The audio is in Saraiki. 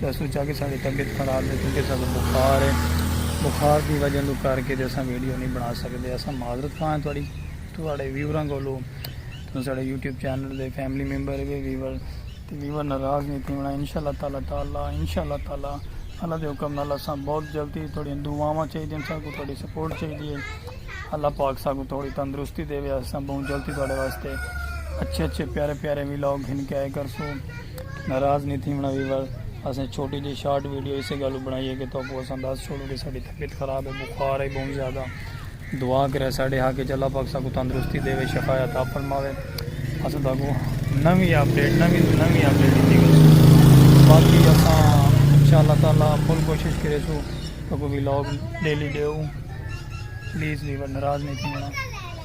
تے سوچا کہ ساڈی طبیعت خراب ہے کیونکہ اساں کو بخار ہے بخار دی وجہ توں کر کے اساں ویڈیو نہیں بنا سکدے اساں معذرت خواہ ہیں تہاڈی تہاڈے ویوراں کولو تساں ساڈے یوٹیوب چینل دے فیملی ممبر ہے ویور تے ویور ناراض نہیں تھیونا انشاءاللہ تعالی تعالی انشاءاللہ تعالی اللہ دے حکم نال اساں بہت جلدی تہاڈیاں دعاواں چاہیے اساں کو تہاڈی سپورٹ چاہیے اللہ پاک اساں کو تھوڑی تندرستی دے اساں بہت جلدی تہاڈے واسطے اچھے اچھے پیارے پیارے ولاگ گھن کے آئے کرسوں ناراض نی تھیونڑاں ویور اسیں چھوٹی جئی شارٹ ویڈیو اسے گل اوں بنڑائی ہے کہ تہاکوں اساں دس چھوڑوں کہ ساڈی طبیعت خراب ہے بخار ہے بہوں زیادہ دعا کرے ساڈے حق وچ اللہ پاک ساکوں تندرستی دے وے شفا عطا فرماوے اساں تہاکوں نوی اپڈیٹ نوی تو نوی اپڈیٹ دیتی گئی باقی اساں انشاءاللہ تعالی فل کوشش کرے سو تہاکوں وی لوگ ڈیلی ڈیو پلیز ویور ناراض نی تھیونڑاں